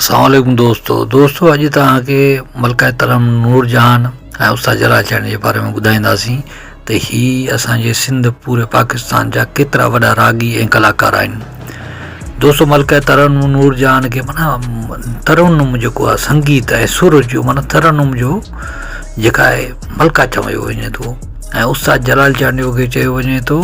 السلام عليڪم دوستو دوستو اڄ توهان کي ملڪه ترم نور جهان ۽ استاد جلال چيان جي باري ۾ ٻڌائينداسين ته هي اسان جي سنڌ پوري پاڪستان جا ڪيترا وڏا راڳي ۽ ڪلاڪار آهن دوستو ملڪه ترم نور جهان کي مانا ترنم جيڪو آهي سنگيت ۽ سر جو مانا ترنم جو جيڪا آهي ملڪه چيو وڃي ٿو ۽ استاد جلال چانڊيو کي چيو وڃي ٿو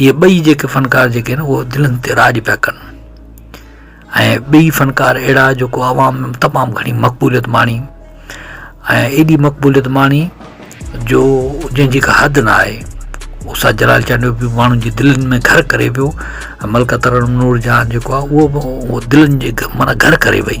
اهي ٻئي جيڪي فنڪار جيڪي آهن اهي دلين تي راڄ پيا ڪن ۽ ٻئي فنڪار اهڙا جيڪو عوام ۾ تمام گهڻي مقبوليت ماڻي ۽ ايڏي مقبوليت ماڻي جو جنهنجي ڪا حد نه آهي هو سر جلال چانڊيو به ماڻهن جي دلين ۾ گهر ڪري ويو ۽ ملڪه ترنم نور جهان جيڪو آهي اهو به دلين جي معنيٰ گهر ڪري وئي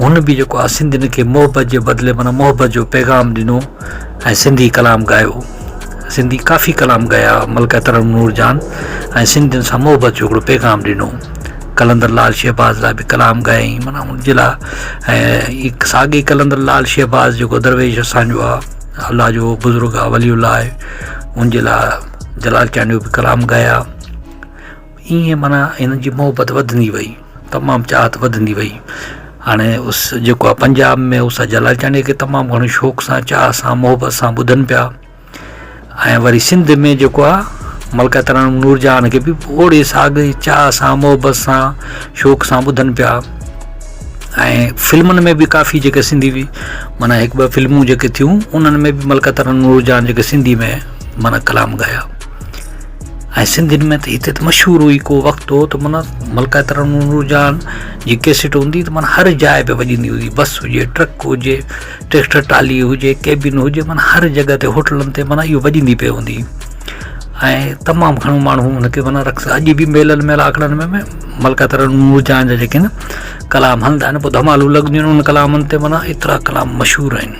هن به جيڪو آهي سنڌين کي محبت جي بدلي معنيٰ محبت جو پيغام ڏنو ۽ سنڌي ڪلام ڳايو. سنڌي ڪافي ڪلام ڳايا ملڪه ترنم نور جان ۽ سنڌين سان محبت جو هڪڙو پيغام ڏنو. قلندر لال شهباز لاء به ڪلام ڳايائين معنيٰ ان جي لاء ۽ ساڳي قلندر لال شهباز جيڪو درويش اسان جو آهي الله جو بزرگ آهي ولي الله آهي ان جي لاء جلال چانڊيو به ڪلام ڳايا. ائين معنيٰ هنن جي محبت وڌندي وئي تمام چاهت وڌندي وئي هاڻي اس جيڪو آهي پنجاب ۾ اس اجهه لاڙڪاڻي کي تمام گهڻو شوق سان چاهه سان محبت سان ٻڌن پيا ۽ وري سنڌ ۾ جيڪو آهي ملڪه ترنم نور جهان کي به اوڙي ساڳئي چاهه سان محبت سان شوق سان ٻڌن پيا ۽ فلمن ۾ به ڪافي جيڪي سنڌي بي معنيٰ هڪ ٻه فلمون جيڪي ٿيون انهن ۾ به ملڪه ترنم نور جهان جيڪي سنڌي ۾ معنيٰ ڪلام ڳايا ۽ سنڌين ۾ ته هتي ته مشهور هئي ڪو وقت هو ته معنيٰ ملڪه ترنم نورجهان جي ڪيسٽ هوندي ته معنيٰ هر جاء تي وڄندي هئي بس هجي ٽرڪ هجي ٽريڪٽر ٽالي هجي ڪيبن هجي معنيٰ هر جڳهه تي هوٽلن تي معنيٰ اهو وڄندي پئي هوندي هئي ۽ تمام گهڻو ماڻهو ان کي معنيٰ رقص اڄ به ميلن ميلا آکڙن ۾ به ملڪه ترنم نورجهان جا جيڪي آهن ڪلام هلندا آهن پوء ڌمالون لڳنديون آهن ان ڪلامن تي معنيٰ ايترا ڪلام مشهور آهن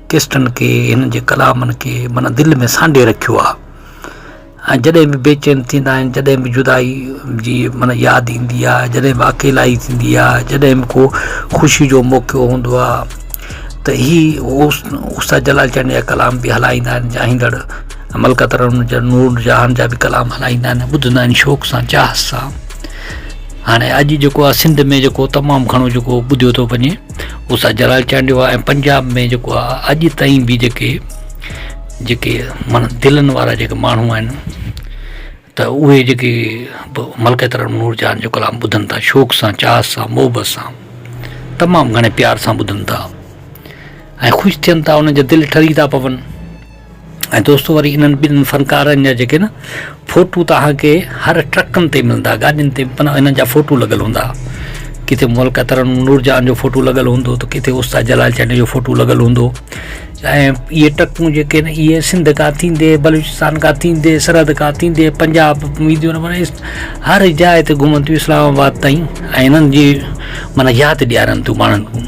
ڪيسٽن کي هنن جي ڪلامن کي معنيٰ دل ۾ سانڍي رکيو آهي ۽ جڏهن به بيچين ٿيندا آهن جڏهن به جدائي جي معنيٰ ياد ايندي آهي جڏهن به اڪيلائي ٿيندي آهي جڏهن به ڪو خوشي جو موقعو هوندو آهي ته هي استاد جلال چانڊيا جا ڪلام به هلائيندا آهن چاهيندڙ ملڪه ترنم جا نور جهان جا به ڪلام هلائيندا آهن ۽ ٻڌندا آهن شوق سان چاهت سان هاڻي اڄ جيڪو آهي سنڌ ۾ جيڪو تمام گهڻو جيڪو ٻڌيو ٿو وڃي هو سائين جلال چانڊيو آهي ۽ پنجاب ۾ جيڪو آهي اڄ تائين به جيڪي جيڪي مانا دلن وارا جيڪي ماڻهو آهن ته اهي جيڪي ملڪيت نور جان جو ڪلام ٻڌن ٿا شوق سان چاهه سان محبت سان تمام گهڻي پيار سان ٻڌن ٿا ۽ خوش ٿين ٿا انهن جا دل ٺري ٿا پون ۽ دوستو وري انهن ٻن فنڪارن جا جيڪي نه فوٽو توهان کي هر ٽرڪن تي ملندا گاڏين تي معنيٰ انهن جا فوٽو لڳل هوندا ڪٿي ملڪه ترنم نورجهان جو فوٽو لڳل هوندو ته ڪٿي استاد جلال چانڊيو جو فوٽو لڳل هوندو ۽ اهي ٽرڪون جيڪي آهن اهي سنڌ کان ٿيندي بلوچستان کان ٿيندي سرحد کان ٿيندي پنجاب وينديون معنی هر جاء تي گهمن ٿيون اسلام آباد تائين ۽ انهن جي معنيٰ ياد ڏيارن ٿيون ماڻهن کي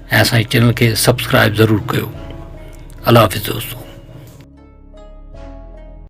۽ اسان جي چينل کي سبسڪرائب ضرور ڪيو الله حافظ دوستو.